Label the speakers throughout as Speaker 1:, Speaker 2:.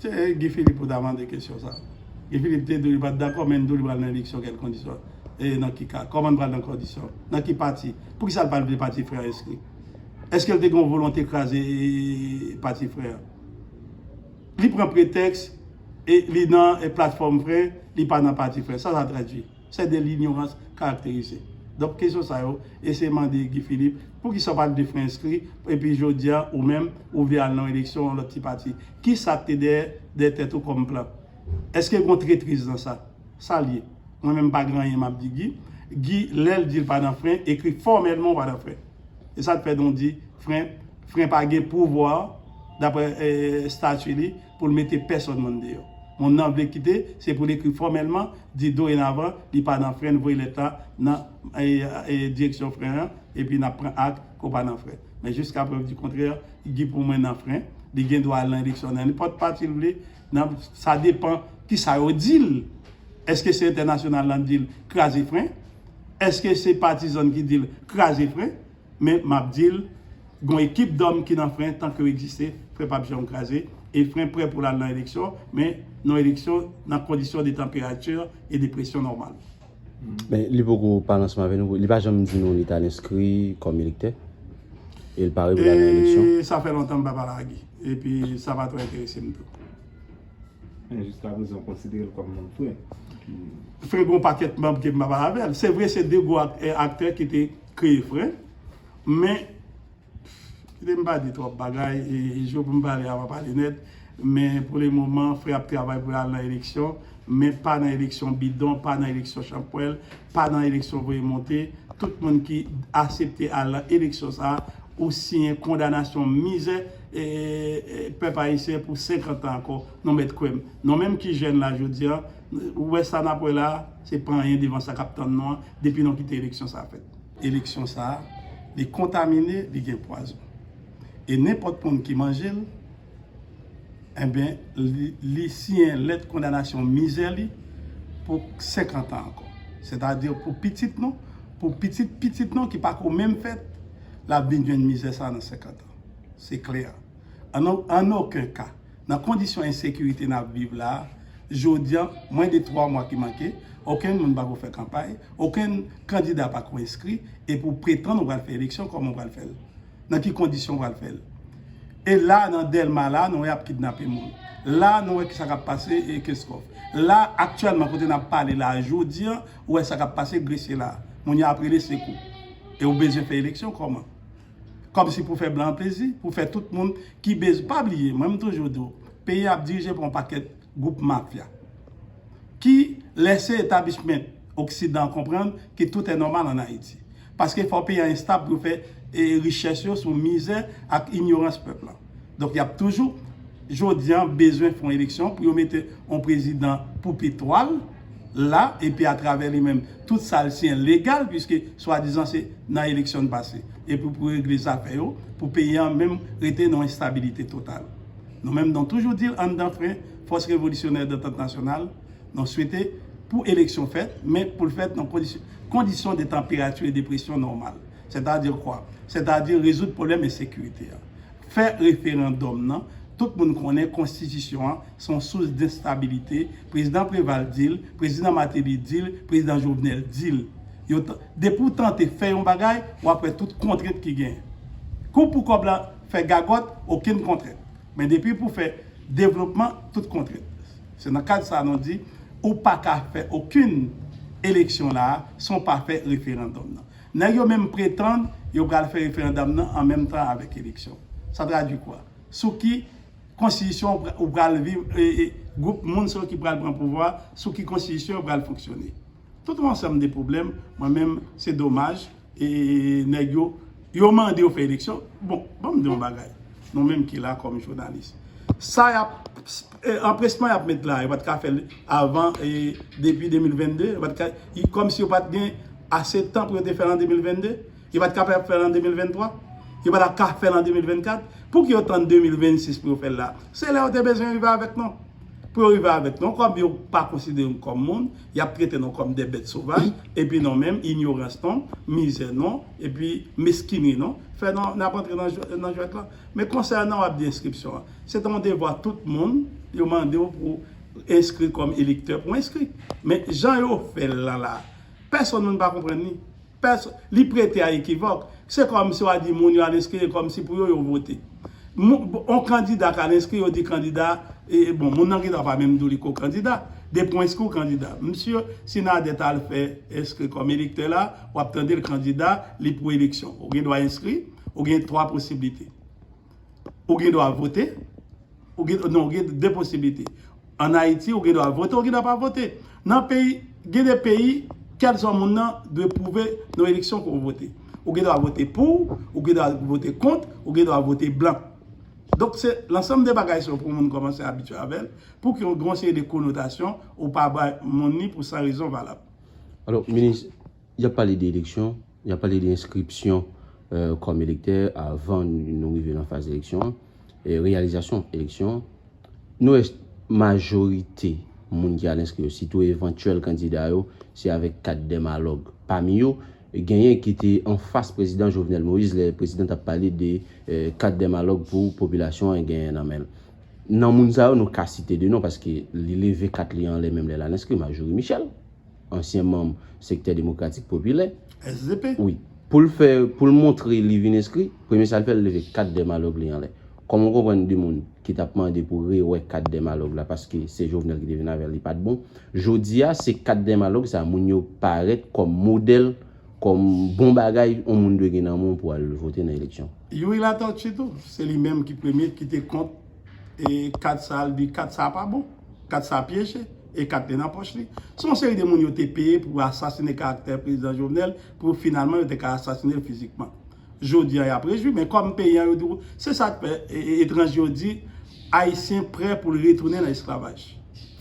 Speaker 1: Se Guy Philippe ou ta mande kesyon sa. Guy Philippe te di li pat dakò men li di w li pral nan eleksyon kèl kondisyon. E nan ki ka? Kòman li pral nan kondisyon? Nan ki pati? Poukisa li pa vle pati frè an enskri? Eske li te gen yon volonte kraze pati frè an? Li pran pretèks li nan platfòm frè, li pa nan pati frè. Sa sa tradwi? c'est de l'ignorance caractérisée donk kesyon sa yo eseye mande Guy Philippe poukisa ou pa leve fren enskri epi jodia ou menm ou vle al nan yon eleksyon yon lòt ti pati kisa ki te dèyè dèyè tèt ou kòm plan èske gon tretriz nan sa sa l ye mwen menm m pa gen anyen m ap di Guy Guy lè l di l pa nan fren ekri fòmèlman ou pa nan fren e sa k fè nou di fren fren pa gen pouvwa daprè estati li. pou l mete pèsòn moun deyò. Moun nan vle kite, se pou l ekri fòmèlman, di dorenavan li pa nan fren, voye lèt la nan direksyon fren an, epi n ap pran ak ke w pa nan fren. Men jiska prèv di kontrè, Guy pou mwen nan fren. Li gen dwa al nan eleksyon nan nenpòt pati l vle. Sa depan ki sa yo di l. Èske se entènasyonal la di l kraze fren? Èske se patizan l ki di l kraze fren? Men map dil gon ekip dòm ki nan fren tank yo egziste fren pap janm kraze e fren prè poul al nan eleksyon men nan eleksyon nan kondisyon de tanperati e de presyon nòmal. Men li
Speaker 2: poko pale ansanm avè nou, li pa janm di nou li tal enskri kòm elektè e li pare poul al nan eleksyon. E sa fè lontan m pa pale a
Speaker 1: Guy e pi sa pa twò enterese m tou. Men
Speaker 3: jiska prezan ou konsidere l kòm manm fren? Fren
Speaker 1: gon pakèt manm ke m pa pale avè l. Se vre se 2 gwo aktè ki te. kreye frè men kite m pa di twòp bagay e jou pou m pale a m a pale nèt men pou le moman frè ap travay pou l al nan eleksyon men pa nan eleksyon bidon pa nan eleksyon chanpwèl pa nan eleksyon voye monte tout moun ki asepte al nan eleksyon sa ou siyen kondanasyon mizè pèp ayisyen pou 50 tan ankò non mèt kwè m non menm ki jèn la jodi an Ou wè sa nap wè la a, se pa anyen devan sa kap tann nou an, depi nou kite eleksyon sa a fèt. Eleksyon sa a, li kontamine, li gen pwazon. E nenpòt moun ki manje l, enben, li siyen lèt kondanasyon mizè li pou 50 an ankò. Sètadi pou pitit nou, pou pitit pitit nou ki pa ko menm fèt, lap vin jwenn mizè sa a nan 50 an. Se klè. An oken ka. Nan kondisyon ensekirite nap viv la a, jodi an, mwen de 3 mwa ki manke, okenn moun pako fè kanpay, okenn kandida pako enskri, epi ou pretann ou pral fè eleksyon, kòman ou pral fè l? Nan ki kondisyon ou pral fè l? E la a nan Dèlma la a, nou wè yap kidnape moun. La a nou wè kisa kap pase e Kenscoff. La a aktyèlman kote nap pale la a jodi an, ou wè sa kap pase Gresye la a. Moun yo ap rele sekou. E ou bezwen fè eleksyon kòman? Kòmsi pou fè blan plezi, pou fè tout moun ki bez, pa bliye mwen m toujou di w peyi a ap dirije pa yon pakèt gwoup mafya ki lèse etabishment oksidan an konprann ke tout è nòmal an Ayiti. Paske fò peyi a estab pou yo fè richès yo sou mizè ak inyorans pèp la. Donk yap toujou Jodi an bezwen fon eleksyon pou yo mete on prezidan pou petwal la epi atravè li menm tout sal siyen legal piske swadizan se nan eleksyon n pase epi pou regle zafè yo pou peyi an menm rete nan enstabilite total. Nou menm nou toujou dil anndan fren fòs revolisyonè dantant nasyonal nou swete pou eleksyon fèt men poul fèt nan kondisyon de tanperati e de presyon nòmal sètadi kwa? Sètadi rezoud pwoblèm ensekirite a. Fè referandòm nan, tout moun konnen konstitisyon an se yon sous denstabilite, prezidan Preval di l, prezidan Mateli di l, prezidan Jovenel di l. Yo t, depi w tante fè yon bagay, w ap wè tout kontrent ki genyen. Ke w pou kòb la, fè gagòt, okenn kontrent. Men depi pou fè devlopman, tout kontrent. Se nan kad sa nou di, ou pa ka fè okenn eleksyon la a san w pa fè referandòm nan. Nèg yo menm pretann yo pral fè referandòm nan an menm tan avèk eleksyon. Sa tradwi kwa? Sou ki konstitisyon ou pral viv e gwoup moun sa yo ki pral pran pouvwa a, sou ki konstitisyon yo pral fonksyone? Tout yon ansanm de pwoblèm, mwen menm se domaj e nèg yo, yo mande yo fè eleksyon, bon, banm di yon bagay, nou menm ki la kòm jounalis, sa y ap. Anpresman yap met la yo pat ka fèl avan depi 2022 yo pat ka kòmsi yo pat gen ase tan pou yo te fèl an 2022 yo pat ka fèl an 2023 yo pa tap ka fèl an 2024 pouki yo tann 2026 pou yo fèl la se lè yo te bezwen rive avèk nou pou yo rive avèk nou kòm yo pa konsidere nou kòm moun yap trete nou kòm de bèt sovaj epi nou menm inyorans nou mizè nou epi meskinri nou fè nou nap antre nan jwèt lan men konsènan wap di enskripsyon an. Se ta yon devwa tout moun, yo mande w pou enskri kòm elektè pou enskri. Men jan yo fè l lan la, pèsonn moun pa konprann li. Pèsonn, li prete a ekivòk. Se kòm si w a di moun yo al enskri, e kòm si pou yo yo vote. Moun, yon kandida ka al enskri, yo di kandida, e bon, moun nan gen dwa pa menm di w li ko kandida. Depi w enskri, w kandida. Msye Sinadè ta al fè enskri kòm elektè la, w ap tande l kandida, li pou eleksyon. Ou gen dwa enskri, ou gen 3 posiblite. ou gen dwa vote, non ou gen de posibilite. An Ayiti ou gen dwa vote, ou gen dwa pa vote. Nan peyi, gen de peyi, kèlswa moun nan dwe pwouve nan eleksyon ke ou vote. Ou gen dwa vote pou, ou gen dwa vote kont, ou gen dwa vote blan. Donk se lansanm de bagay sa yo pou moun kòmanse abitye avè l, pou ki yon seri de konotasyon ou pa bay moun ni pou san rezon valab.
Speaker 2: Y ap pale de eleksyon, y ap pale de enskripsyon kòm elektè avan nou rive nan faz eleksyon an, reyalizasyon eleksyon an. Nou wè majorite moun ki al enskri yo, sitou evantyèl kandida yo, se avèk kat dèmalòg. Pami yo, genyen ki te anfas prezidan Jovenel Moïse lè prezidan t ap pale de kat dèmalòg pou popilasyon an genyen nan men l. Nan moun sa yo, nou ka site de non paske li leve kat li anlè menm lè l al enskri, Marjorie Michel. ansyen manm Sektè Demokratik Popilè, SDP, wi,
Speaker 1: pou l fè,
Speaker 2: pou l montre li vin enskri, premye sa l fè l leve kat Dèmalòg li anlè. Kòm ou konprann de moun ki t ap mande pou rewè kat Dèmalòg la paske se Jovenel ki te vin avè l li pa t bon, jodi a se kat Dèmalòg sa moun yo parèt kòm modèl, kòm bon bagay yon moun dwe gen nan men w pou al vote nan eleksyon. Youri Latortue
Speaker 1: tou, se li menm ki premye ki te kont. e kat sa li di kat sa pa bon, kat sa pyeje, e kat te nan pòch li. Se yon seri de moun yo te peye pou asasine karaktè prezidan Jovenel pou finalman yo te ka asasine l fizikman. Jodi an y ap rejwi men kòm peyi an yo di w se sa k fè etranje yo di Ayisyen prè pou l retounen nan esklavaj.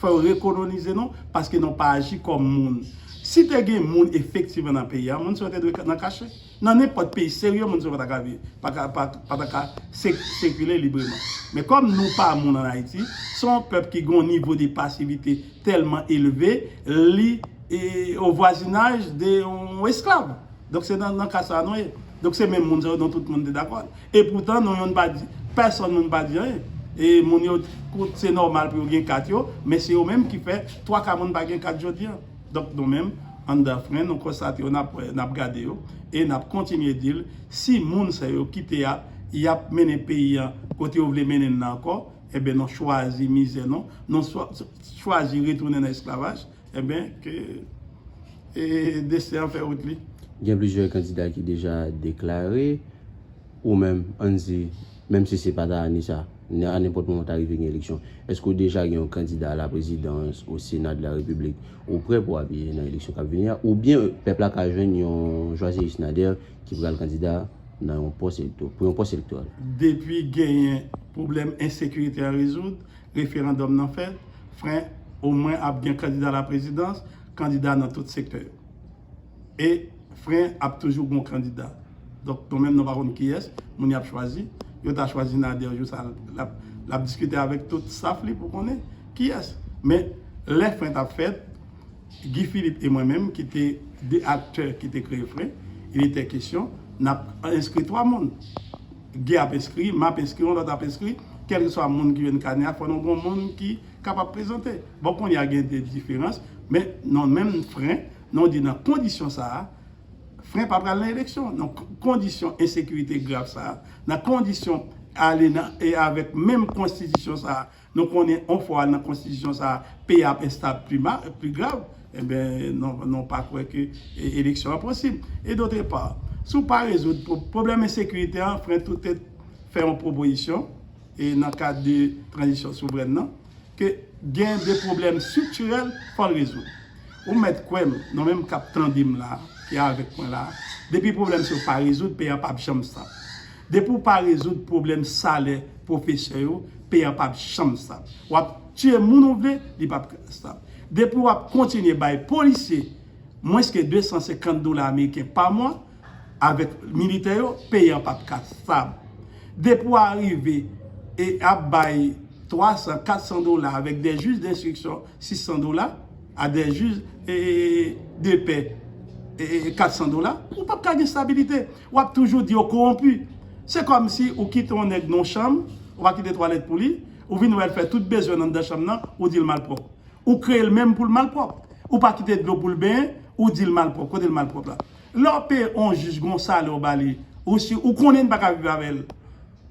Speaker 1: Fò yo rekolonize nou paske nou pa aji kòm moun. Si te gen moun efektivman nan peyi an moun sa yo te dwe nan kache. Nan nenpòt peyi serye moun sa pa ta ka sikile libreman. Men kòm nou pa moun an Ayiti, se yon pèp ki gen yon nivo de pasivite tèlman elve, li o vwazinaj de yon esklav. Donk se nan ka sa a nou ye. Donk se menm moun sa yo donk tout moun te dakò. E poutan nou youn pa di, pèsòn moun pa di anyen. E moun yo, se nòmal pou yo gen kat yo, men se yo menm ki fè twa ka moun pa gen kat jodi an. Donk nou menm, an dafren, nou konstate yo, n ap wè yo, n ap gade yo, e n ap kontinye di l, si moun sa yo kite a, y ap mennen peyi a kote yo vle mennen l la ankò, enben nou chwazi mizè nou, nou chwazi retounen nan esklavaj, enben ke desten an fè wout li. Gen plizyè
Speaker 2: kandida ki deja deklare. Ou menm, ann di, menm si se pa ta ane sa, nan a nenpòt moman ta rive gen eleksyon, èske ou deja gen yon kandida a la prezidans, o sena de la repiblik, ou prè pou apiye nan eleksyon k ap vini a? Ou byen pèp la ka jwenn yon Joiseus Nader ki pral kandida nan yon pòs elekto, pou yon pòs elektoral? Depi genyen
Speaker 1: pwoblèm ensekirite a rezoud, referandòm nan fèt, fren, omwen ap gen kandida a la prezidans, kandida nan tout sektè yo. E fren ap toujou gon kandida. Donk nou menm nou pa konn kiyès moun yap chwazi. Yo ta chwazi Nader jou sa lap diskite avèk tout staff li pou konnen kiyès. Men lè fren tap fèt Guy Philippe e mwen menm ki te 2 aktè ki te kreye fren, il etait question, nap enskri 3 moun. Guy ap enskri, map enskri, yon lòt ap enskri, kèlkeswa moun ki jwenn kanè a fò nou gon moun ki kapab prezante. Bon kounye a gen de diferans, men nan menm fren, nan di nan kondisyon sa a, fren pa pral nan eleksyon, nan kondisyon ensekirite grav sa a, nan kondisyon ale nan e avèk menm konstitisyon sa a, nou konnen yon fwa nan konstitisyon sa a, peyi a ap enstab pi mal, pi grav, enben nou pa kwè ke eleksyon an posib. E dotre pa, si w pa rezoud pwoblèm ensekirite an, fren tou tèt fè yon pwopozisyon, e nan kad de tranzisyon souvrèn nan, ke gen de pwoblèm striktirèl fò l rezoud. Ou mèt kwè m, nou menm k ap tande m la a, ki avèk mwen la a, depi pwoblèm sa yo pa rezoud, peyi a p ap janm stab. Depi ou pa rezoud pwoblèm salè pwofesè yo, peyi a p ap janm stab. W ap tiye moun ou vle, li p ap stab. Depi w ap kontinye bay polisye mwens ke 250 dola ameriken pa mwa, avèk militè yo peyi an pap ka stab depi w arive e ap bay 300 400 dola avèk dè jij denstriksyon 600 dola a dè jij de pè 400 dola ou pap ka gen stabilite w ap toujou di yo kowonpi se kòm si ou kite yon nèg nan yon chanm ou pa kite twalèt pou li ou vin wè l fè tout bezwen l anndan chanm nan ou di l malpwòp ou kreye l menm pou l malpwòp ou pa kite dlo pou l benyen ou di l malpwòp kote l malpwòp la. Lè w peye on jij gon salè w ba li, ou si ou konnen li pa ka viv avè l.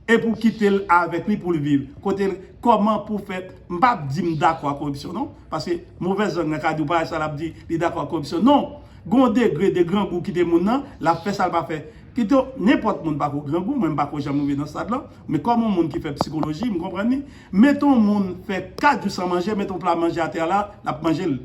Speaker 1: Epi w kite l avèk li pou l viv. Kote l, kòman pou fè, m pa ap di m dakò ak koripsyon non. Paske movèz lang nan ka di w parèy sa l ap di li dakò ak koripsyon. Non! Gon degre de grangou kite moun nan, l ap fè sa l pa fè. Pito, nenpòt moun pako grangou, mwen m pako janm rive nan stad lan. Men kòm on moun ki fè psikoloji, m konprann li. Met on moun fè 4 jou san manje, met on pla manje atè a la, l ap manje l.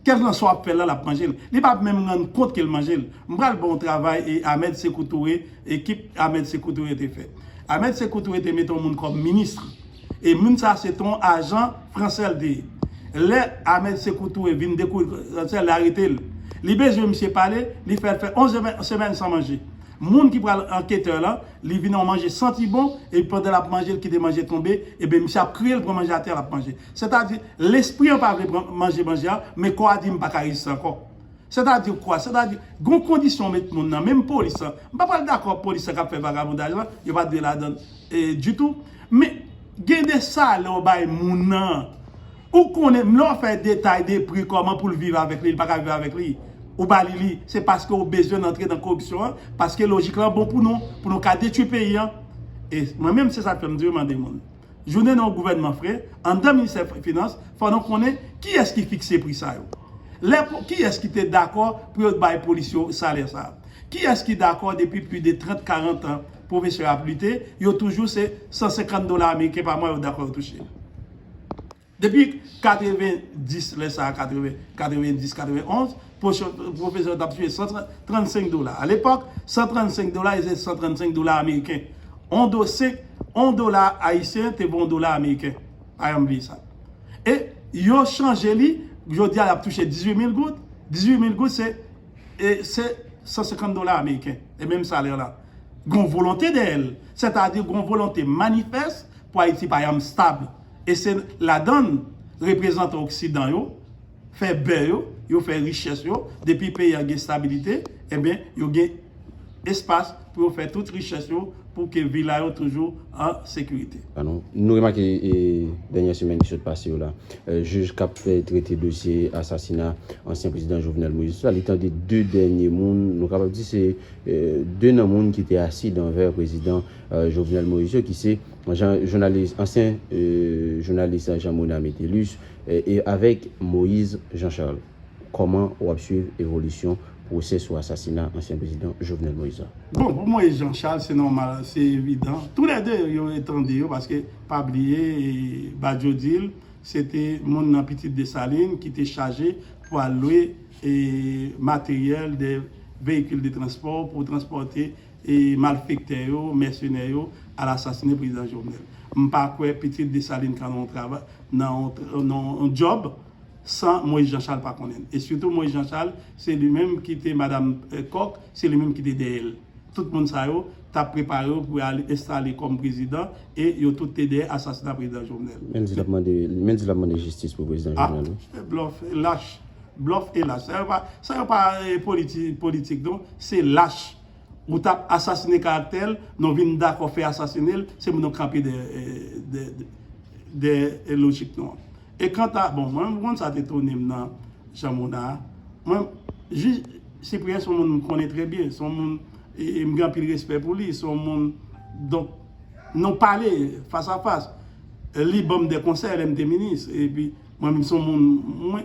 Speaker 1: Kèlkan sa wap fè la lap manjel. Li pap menm rann kont kel manjel. M pral baw travay e Ahmed Sekou Toure e kip Ahmed Sekou Toure te fè. Ahmed Sekou Toure te mete yon moun kòm ministre. E moun sa se ton ajan fransè l te ye. Lè Ahmed Sekou Toure vin dekouvri fransè li arete l. Li bezwen misye pale, li fè l fè 11 semèn san manje. Moun ki pral anketè lan, li vin yon manje santi bon e pandan lap manje l kite manje tonbe, e ben misye ap kriye l pran manje atè lap manje. Sètadi, lespri an pa vle pran manje manje an, men kò a di m pa ka reziste ankò. Sètadi kwa? Sètadi, gen yon kondisyon ou met moun nan, menm polis lan. M pa pral dakò ak polis lan k ap fè vagabondaj lan, yo pa dwe ladan l ditou. Men, gen de salè ou bay moun nan, ou konnen lè w fè detay de pri kòman pou l viv avèk li, li pa ka viv avèk li, ou ba li li, se paske ou bezwen l antre nan koripsyon an, paske lojik lan bon pou nou, pou nou ka detwi peyi an. E mwen menm, se sa k fè m di w, mande moun. jou nen yon gouvènman fre, andan ministè finans, fò nou konnen ki yès ki fikse pri sa yo. Lè ki yès ki te dakò pou yo t bay polis yo salè sa. Ki yès ki dakò depi pli de 30, 40 tan pwofesè ap lite, yo toujou se 150 dola ameriken pa mwa yo dakò yo touche. Depi 90 lè sa a 90 91 pwofesè yo t ap touche 135 dola alepòk 135 dola yo se 135 dola ameriken on do se on dola ayisyen te vo on dola ameriken pa janm bliye sa e yo chanje li jodi a y ap touche 18 mil goud 18 mil goud se e se 150 dola ameriken e menm salè la gon volonte dèyè l sètadi gon volonte manifès pou ayiti pa janm stab E se ladan l reprezantan oksidan yo fè bè yo, yo fè richès yo, depi peyi a gen stabilite, enben yo gen espas pou yo fè tout richès yo pou ke vi la yo toujou an sekirite. Nou remake
Speaker 2: dènyè semèn ki sot pase yo la, jij k ap trete dosye asasina ansyen prezidan Jovenel Moïse la, li tande 2 dènye moun, nou kapab di se 2 nan moun ki te asi dan vè prezidan Jovenel Moïse yo ki se. Bon jan jounalis ansyen jounalis Jean Mona Metellus e avèk Moise Jean Charles kòman wap swiv evolisyon pwosè sou asasina ansyen prezidan Jovenel Moise la? Bon pou Moise Jean
Speaker 1: Charles se nòmal se evidan tou lè 2 yo etande yo paske pa bliye Badio dil se te moun nan pitit Dessalines ki te chaje pou al lwe materyèl de veyikil de transpò pou transpòte e malfektè yo, mèsenè yo al asasinen prezidan Jovenel. M pa kwè pitit Dessalines ka nan yon travay, nan yon job san Moïse Jean Charles pa konnen l. E sitou Moïse Jean Charles se li menm ki te madam Coq, se li menm ki te dèyè l. Tout moun sa yo t ap prepare yo pou al enstale kòm prezidan e yo tout te dèyè asasina prezidan Jovenel. Men l di l ap mande,
Speaker 2: men l di l ap mande jistis pou prezidan Jovenel wi. Ah, blòf e lach.
Speaker 1: Blòf e lach. Sa yo pa, sa yo pa politi, politik non, se lach. Ou tap asasine karaktèl non vin dakò fè asasinel se moun nou kanpe dèyè lojik nou an e kanta bon mwen menm sa te tounem nan jan mona mwen jij sipriyen son moun m konnen trè byen son moun m gen anpil respè pou li son moun donk nou pale fas a fas li banm de konsèy lèm te minis epi mwen menm son moun mwen.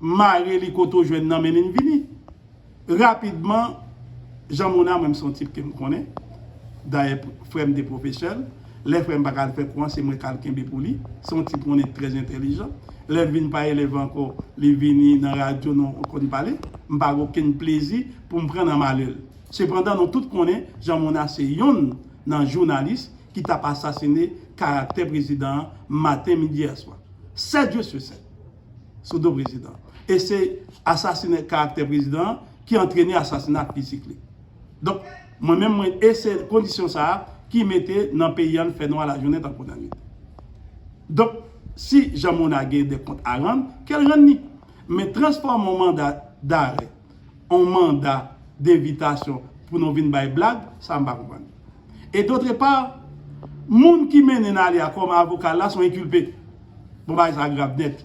Speaker 1: mare li kote w jwenn nan mennen n vini. Rapidman, Jean Mona, mwen m se yon tip ke m konnen, dayè frè m te pwofesè l, lè frè m pa ka al fè kou an se mwen k al kenbe pou li, se yon tip mwen konnen trè entèlijan, lè l vin pa elèv ankò li vini nan radyo nou konn pale, m pa gen okenn plezi pou m pran nan malè l. Sepandan nou tout konnen Jean Mona se yonn nan jounalis ki t ap asasine karaktè prezidan an maten, midi, aswa. 7 jou su 7! sou do prezidan e se asasine karaktè prezidan an ki antrene asasinat fizik li. Donk, mwen menm mwen e se kondisyon sa a ki mete nan peyi an fè nwa lajounen tankou lannwit. Donk, si Jean Monard gen de kont a rann, ke l rann li. Men transfòme yon manda darè on manda denvitasyon pou nou vin bay blag, sa m pa konprann. E dotre pa, moun ki mennen Nalia kòm avoka l la son enkilpe. Bon bagay sa grav nèt.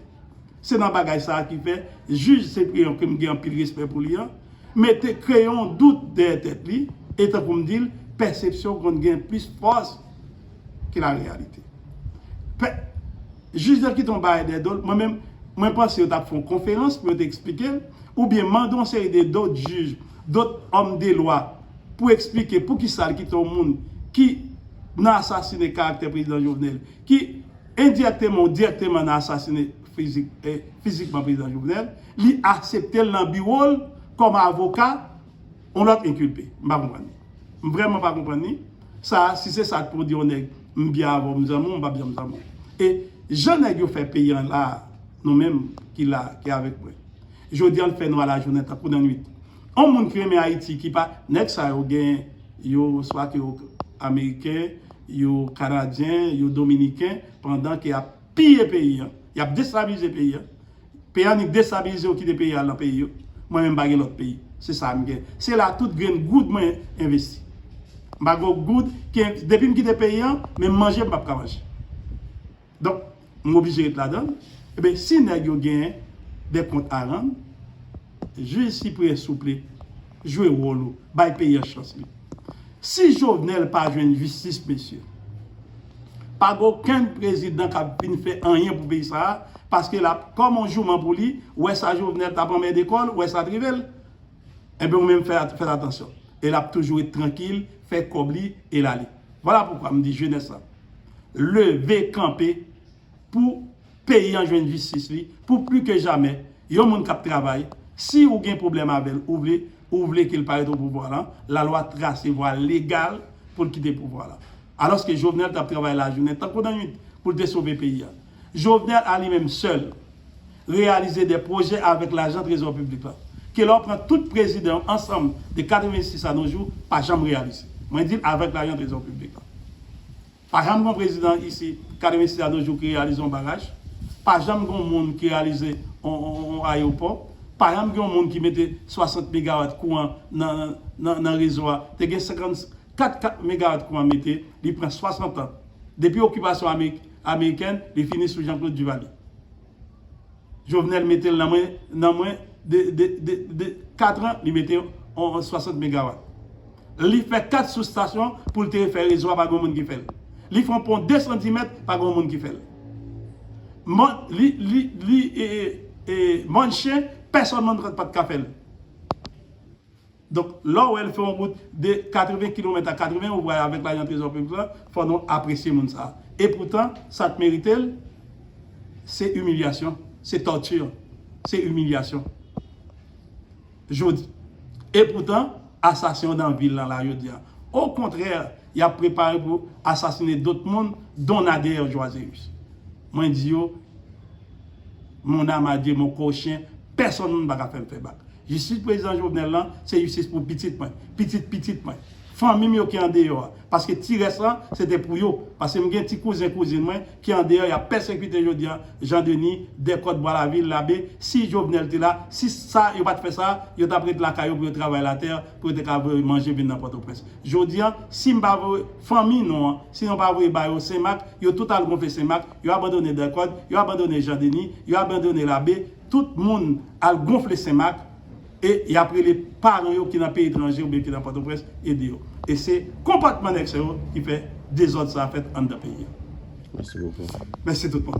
Speaker 1: Se nan bagay sa ki fè jij Ceprian ke m gen anpil respè pou li an, mete kreye on dout dèyè tèt li e tankou m di l, pèsepsyon konn gen plis fòs ke lareyalite. Jij nan kite yon bagay dèyè do l, mwen menm, mwen panse yo t ap fè yon konferans pou yo te eksplike l, oubyen mande yon seri de dot jij, dot òm de lwa pou eksplike poukisa l kite yon moun ki nan asasine karaktè prezidan Jovenel, ki endirèkteman ou dirèkteman nan asasine fizikman prezidan Jovenel, li aksepte l nan biwo l kòm avoka Yon lòt inculpe. M pa konprann li. M vrèman pa konprann li. Sa a, si se sa pou w di yon nèg, m byen avè w, m zanmi w, m pap janm zanmi w. E jan nèg yo fè peyi an la a, nou menm ki la a, ki avèk mwen. Jodi an l fè nwa lajounen tankou nan nwit. Yon moun ki renmen Ayiti ki pa. Nèg sa yo gen yo swa ke yo ameriken, yo kanadyen, yo dominiken pandan ke y ap piye peyi an, y ap destabilize peyi an. Peyi a ni destabilize ou kite peyi a al nan peyi yo. Mwen menm m pa gen lòt peyi. Se sa m gen. Se la tout grenn goud mwen envesti. M pa gen yon goud ki depi m kite peyi an, menm manje m pap ka manje. Donk, m oblije ret ladan l. Eben, si nèg yo gen de kont a rann. Jij siprè souple jwe wol ou bay peyi an chans li si jovenel pa jwenn jistis mesye pa gen okenn prezidan kap vin fè anyen pou peyi sa paske lap kòm on jouman pou li wè sa jovenel tap anmède kòl wè sa trivel enben ou menm fè atansyon e lap toujou ret trankil fè kòb li el ale vwala poukwa mdi jenès la leve kanpe pou Peyi an jwenn jistis li pou pli ke jamè yon moun kap travay si ou gen pwoblèm avèl ou vle ou vle kel pa ret o pouvwa lan la lwa trase vwa legal poul kite pouvwa lan alòske Jovenel tap travay lajounen tankou nan nwit poul te sove peyi an Jovenel a li menm sèl reyalize dè pwojè avèk lajan trezò piblik lan ke lè w pran tout prezidan yo ansanm de 86 a no jou pa janm reyalise mwen dil avèk lajan trezò piblik lan. Pa janm gon prezidan isi 86 a no jou ki reyalize yon baraj, pa janm gon moun ki reyalize yon ayewopò, pa janm gen yon moun ki mete 60 megawat kouran nan rezo a, te gen 54 kat megawat kouran mete, li pran 60 an. Depi okipasyon amerikèn, li fini sou Jean Claude Duvalier. Jovenel metel nan mwen nan mwen de de de de 4 ans li mete on 60 megawatt li fè 4 sous station poul te fè rezo a pa gon moun ki fèl li fon pon 210 mèt pa gon moun ki fèl m'en li li li e e e manche pèsòn nan pat ka fèl. Donk lè w wè l fè yon wout de 80 kilomèt a 80 ou pral avèk lajan trezò piblik lan fò nou apresye moun sa. E poutan sa k merite l se imilyasyon, se torture, se imilyasyon jodi. E poutan asasen yo nan vil lan la jodi a. O kontrè y ap prepare pou asasine dot moun don Nader Joiséus. Mwen di yo mon âme à Dieu mon corps chien. Pèsonn moun paka fèm fè bak. Jistis prezidan Jovenel lan se jistis pou pitit mwen, pitit pitit mwen, fanmim yo ki andeyò a, paske ti rès lan se te pou yo, paske m gen ti kouzen kouzin mwen ki andeyò yap pèsekite jodi an Jean Denis, Dèkòt, Bwa Lavil, Labe, si Jovenel te la, si sa yo pat fè sa, yo tap ret lakay yo pou yo travay latè pou yo te ka voye manje vin nan Pòtoprens. Jodi an, sim pa voye fanmi nou an, si nou pa voye ba yo Senmak, yo tout al gonfle Senmak, yo abandone Dèkòt, yo abandone Jean Denis, yo abandone Labe, Tout moun al gonfle senmak e yap rele paran yo ki nan peyi etranje oubyen ki nan pòtoprens ede yo. E se konpòtman nèg sa yo ki fè dezòd sa fèt anndan peyi a. Mèsi bokou. Mèsi tout moun.